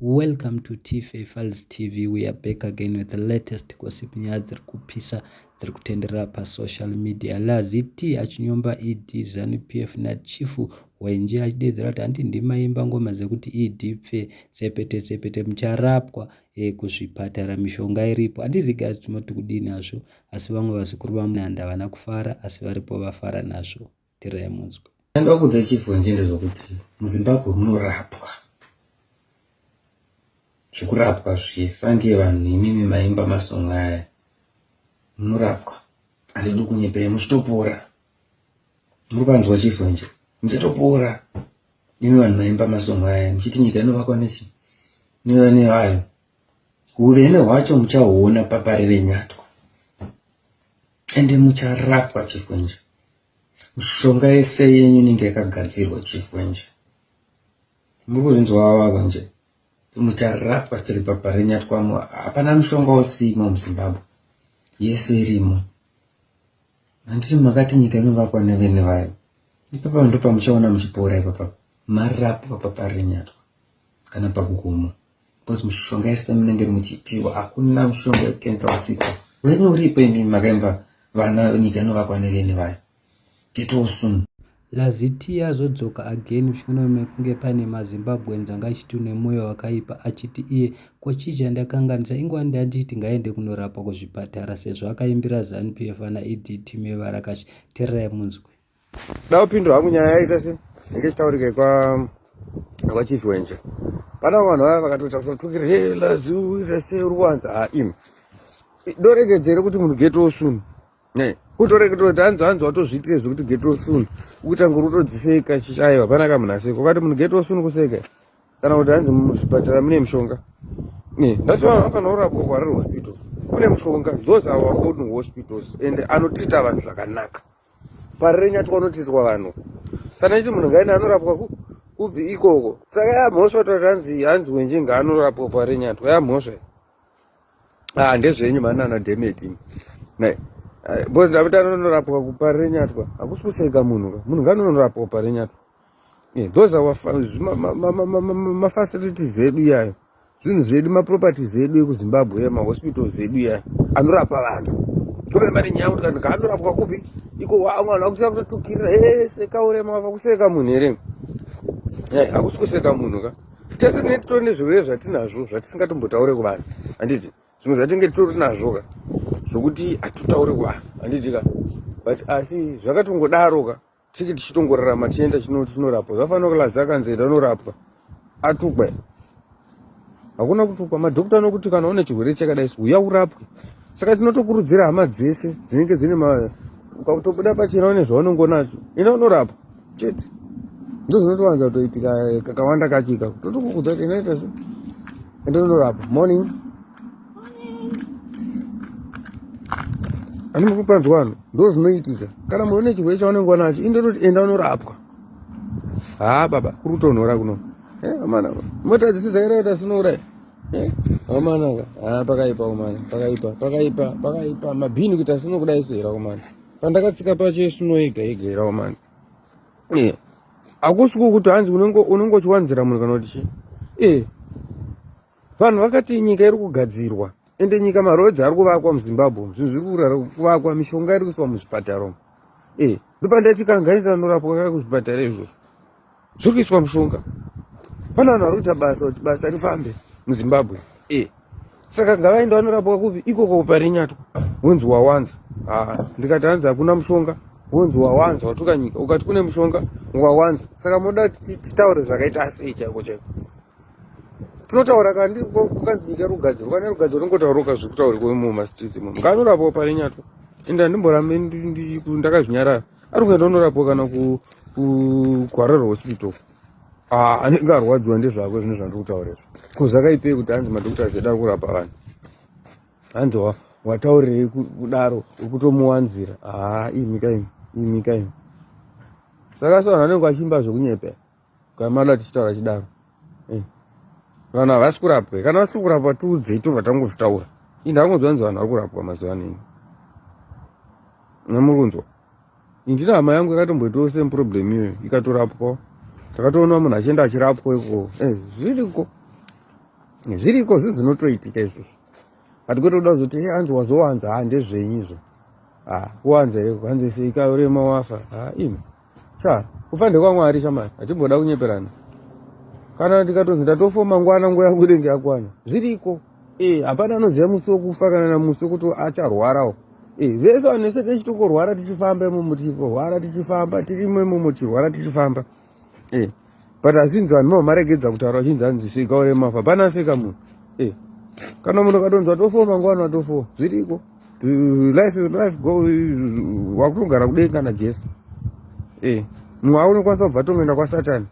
Welcome to Tife Files TV. We are back again with the latest gossip nyaya dziri kupisa dziri kutenderera pasocial media. Lazi T achinyomba ED Zanu PF naChief Hwenje achideedzera kuti hanti ndimaimba ngoma dzekuti ED pfe tsepete tsepete mucharapwa eh, kuzvipatara mishonga iripo. Handizi guys tinoti kudii nazvo asi vamwe vazukuru vamunanda havana kufara asi varipo vafara nazvo. tirai munzwe ndoda kuudza chief wenjende zvokuti muzimbabwe munorapwa zvekurapwa zviye fange vanhu imimi maimba masonga aya munorapwa handidi kunyepere muchitopora muri panzwa chief wenje muchatopora imi vanhu maimba masonga aya muchiti nyika inovakwa nechi nevane vayo Huvene hwacho muchahuona papari renyatwa ende mucharapwa chifwenje. Mishonga yese yenyu inenge yakagadzirwa chifwenje. Muri kuzvinzwa vavava nje mucharapwa sitiri papari renyatwamo. Hapana mushonga usimo muZimbabwe, yese irimo. Handiti makati nyika inovakwa nevene vayo? Ipapa ndopamuchaona muchipora ipapa marapwa papari renyatwa kana pakugomo. Because mushonga yese munenge muchipiwa hakuna mushonga wekensa usipo. Wena uripo imimi makaimba vana nyika inovakwa nevene vayo. Get well soon. Lazitia azodzoka again mushure mekunge pane maZimbabweans anga achiti une mwoyo wakaipa achiti iye ko chii chandakanganisa ingwani ndanditi ngaende kunorapwa kuzvipatara sezvo akaimbira Zanu PF ana ED team yevarakashi tererai munzwe. Daupindura hangu nyaya yaita se inge chitaurika kwa kwa chief wenje. Pana vanhu vaya vakatoita kutotukira hey lazu ita se uri wanza ha im. Dorekedzere kuti munhu get well soon. Ne. Kutorekedzera kuti hanzi hanzi watozviitire zvekuti get well soon. Ukuita nguru utodziseka chichayo hapana kamunhu aseka. Ukati munhu get well soon kuseka. Kana kuti hanzi muzvipatara mune mishonga. Ne. That's why vanofanira kurapwa kwa hospital. Kune mishonga. Those are our own hospitals and anotreat vanhu zvakanaka. parirenyatwa unotidzwa vanhu kana ichi munhu ngaine anorapwa kupi ikoko saka yamhosva tati hanzi hanzi wenje ngaanorapwa parirenyatwa yamhosva ah ndezvenyu manana demeti nai eh, bcause ndapita anonorapwa kuparirenyatwa hakusi kuseka munhu ka munhu ngaanonorapwa parirenyatwa Yeah, those our mafacilities edu iyayo zvinhu zvedu maproperties edu ekuzimbabwe ya mahospitals edu iyayo anorapa vanhu tove mari nyaya kuti kanhu kaanorapwa kupi iko wamwe vanhu vakutoa kutotukirira ese kaurema wava kuseka munhu here yai hakusi kuseka munhu ka tese tine titori nezvirwere zvatinazvo zvatisingatombotaure kuvanhu handiti zvimwe zvatinge titori nazvo ka zvokuti hatitaure kuvanhu handiti ka but asi zvakatongodaro ka tiki tichitongorarama tichienda tinorapwa zvafanira kulaza akanzi enda unorapwa atukwa hakuna kutukwa madhokta anokuti kana une chirwere chakadai uya urapwe saka tinotokurudzira hama dzese dzinenge dzine ma ukakutobuda pachena une zvaunenge unacho enda unorapwa chete ndozvinotowanza kutoitika kakawanda kachika totokukudza kuti inoita se enda unorapwa morning ani mukupanzwa ano ndo zvinoitika kana munhu une chirwere chaunenge wanacho indototi enda unorapwa haa baba kuri kutonhora kuno eh, amanaka mota dzisi dzakaita kuti sinouraya eh, amanaka haa pakaipa umana pakaipa pakaipa pakaipa mabhini kuita sino kuda isu hera umana pandakatsika pacho isuno yega yega hera umana eh, hakusi kukuti hanzi unenge uchiwanzira munhu kana kuti chii Vanhu vakati nyika iri kugadzirwa ende nyika maroads ari kuvakwa muzimbabwe zvinhu zviri kuvakwa mishonga iri kuiswa muzvipatara umu e eh, ndopandachikanganita anorapwa kaka kuzvipatara izvozvo zviri kuiswa mushonga pane vanhu vari kuita basa kuti basa rifambe muzimbabwe e eh, saka ngavaenda vanorapwa kupi ikoko parinyatwa wonzi wawanza ah, ndikati hanzi hakuna mushonga wonzi wawanza watuka nyika ukati kune mushonga wawanza saka moda titaure zvakaita sei chaiko chaiko tinotaura kana ndiri kukanzi nyika iri kugadzirwa kana iri kugadzirwa ringotaurika zviri kutaurikwa mumastreets imomo ngaanorapwa pari nyatwa ende handimborambe ndakazvinyarara ari kuenda unorapwa kana kugwarara hospital ah, anenge arwadziwa ndezvako zvine zvandiri kutaura izvo ko zvakaipei kuti hanzi madokota zvedu ari kurapa vanhu hanzi wataurirei kudaro uri kutomuwanzira haa ah, imika imi imika imi saka sa vanhu vanenge vachiimba zvekunyepa Kamala achitaura achidaro. Eh. Vanhu havasi kurapwa. Kana vasiri kurapwa tiudzei tobva tangozvitaura. Ini ndangonzwa nzi vanhu vari kurapwa mazuva ano ini. Namuri kunzwa. Ini ndina hama yangu yakatomboitawo same problem iyoyo ikatorapwa. Takatoona munhu achienda achirapwa iko. Eh, zviriko. Zviriko zvinhu zvinotoitika izvozvo. But kwete kuda kuzoti hey, eh, anzi wazowanza ha ah, ndezvenyu izvo. Ah, kuwanza here kuwanza sei kaurema wafa. Ah, imi. Cha, kufa ndekwaMwari shamari, hatimboda kunyeperana. Kana ndikatonzi ndatofo mangwana nguva yangu inenge yakwana. Zviriko. Eh, hapana anoziva musi wekufa kana na musi wekuti acharwarawo. Eh, vese vanese tichitongorwara tichifamba imomo tichirwara tichifamba tirimo imomo tichirwara tichifamba. Eh. but asinzi vanhu vamaregedza kutaura vachinzi anzi seka ore mafa hapana aseka munhu eh, kana munhu akatonzi atofoo mangwana atofoo zviriko life life go wakutogara kudei kana jesu eh, mumwe aunokwanisa kubva tongoenda kwasatani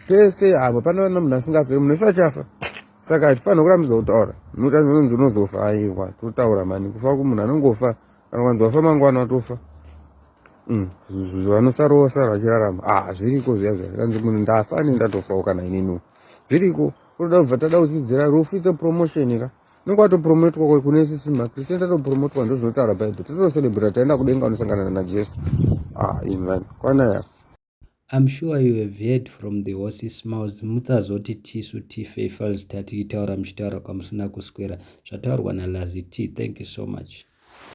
tese havo pana vana munhu asingafe munhu ese achafa saka hatifanira kurambidza kutaura notanzononzi unozofa aiwa totaura mani kufa kumunhu anongofa anowanzi wafa mangwana watofa mm, vanosarova sara vachirarama ah zviriko zviya zviya kanzi munhu ndafa ane ndatofawo kana ininiwo zviriko unoda kubva tada kudzidzira rufu its a promotion ka unenge watopromotwa ko kune sisi makristian tatopromotwa ndo zvinotaura bible totocelebrata taenda kudenga unosangana najesu ah in vanhu kwana yako I'm sure you have heard from the horses mouth mutsazoti tisu tife fals tati itaura muchitaura kwamusina kuswera zvataurwa nalazy t thank you so much